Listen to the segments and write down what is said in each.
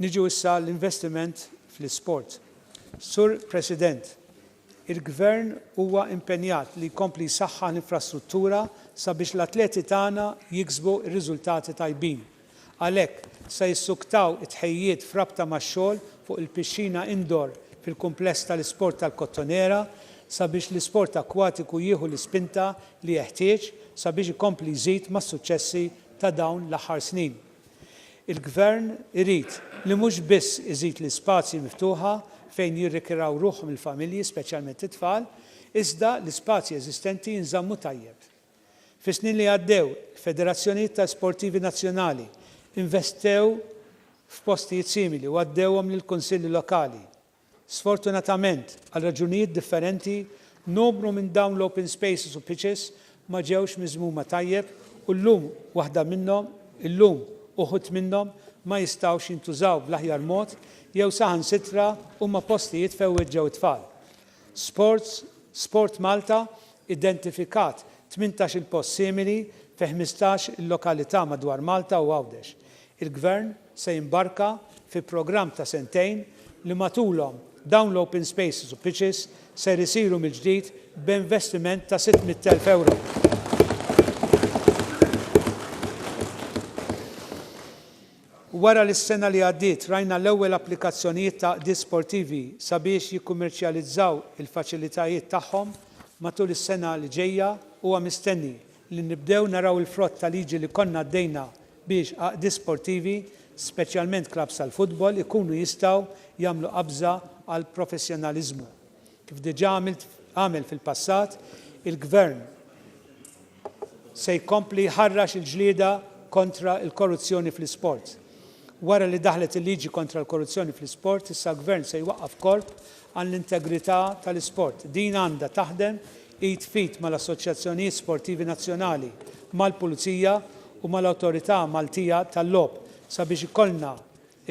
Niġu issa l-investiment fl-isport. Sur President, il-Gvern huwa impenjat li jkompli jsaħħaħ l-infrastruttura sabiex l-atleti tagħna jiksbu r-riżultati tajbin Għalhekk, se jissuktaw it-tħejjijiet f'rabta max-xogħol fuq il-pixxina indoor fil-kumpless tal-isport tal-Kottonera sabiex l-isport akkwatiku jieħu l-ispinta li jeħtieġ sabiex ikompli jżid mas-suċċessi ta' dawn l-aħħar snin. Il-Gvern irid li mhux biss iżid l-ispazji miftuħa fejn jirrikiraw ruħhom il-familji, speċjalment it-tfal, iżda l-ispazji eżistenti jinżammu tajjeb. Fis-snin li għaddew, il-federazzjonijiet ta' sportivi nazzjonali investew f'postijiet simili u għaddewhom lill-kunsilli lokali. Sfortunatament, għal raġunijiet differenti, numru minn dawn l-open spaces u pitches ma ġewx miżmuma tajjeb u llum waħda minnhom, illum uħud minnhom ma jistgħux jintużaw bl-aħjar mod jew saħansitra huma postijiet fejn iweġġgħu t-tfal. Sports, SportMalta identifikat tmintax-il post simili fi ħmistax-il lokalità madwar Malta u Għawdex. Il-Gvern se jimbarka fi programm ta' sentejn li matulhom dawn l-open spaces u pitches ser isiru mill-ġdid b'investiment ta' 600,000 ewro. Wara li s-sena li għaddiet rajna l-ewwel applikazzjonijiet ta' għaqdiet sportivi sabiex jikkummerċjalizzaw il-faċilitajiet tagħhom matul is-sena li ġejja, huwa mistenni li nibdew naraw il-frott ta' liġi li konna għaddejna biex għaqdiet sportivi, speċjalment klabbs tal-futbol, ikunu jistgħu jagħmlu qabża għall-professjonaliżmu. Kif diġà għamel fil-passat, il-Gvern se jkompli jħarrax il-ġlieda kontra l-korruzzjoni fl-isport. Wara li daħlet il-liġi kontra l-korruzzjoni fl-isport, issa l-Gvern se jwaqqaf korp għall-integrità tal-isport. Din għandha taħdem id f'id mal-assoċjazzjonijiet sportivi nazzjonali, mal-Pulizija u mal-Awtorità Maltija tal-Logħob sabiex ikollna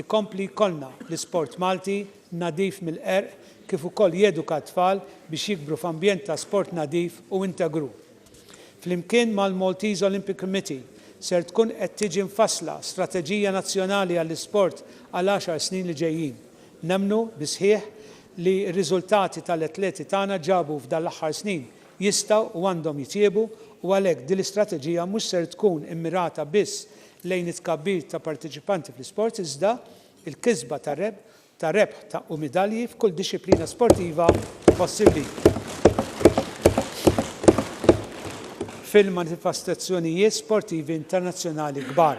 Ikompli jkollna l-isport Malti nadif mill-qerq kif ukoll jeduka t-tfal biex jikbru f'ambjent ta' sport nadif u integru. Flimkien mal-Maltese Olympic Committee ser tkun qed tiġi mfassla strateġija nazzjonali għall-isport għal għaxar snin li ġejjin. Nemmnu bis-sħiħ li r-riżultati tal-atleti tagħna ġabu f'dan l-aħħar snin jistgħu u għandhom jitjiebu u għalhekk din l-istrateġija mhux ser tkun immirata biss lejn it-tkabbir ta' parteċipanti fl-isports iżda l-kisba ta' rebħ ta' u midalji f'kull dixxiplina sportiva possibbli. Fil-manifestazzjonijiet sportivi internazzjonali kbar.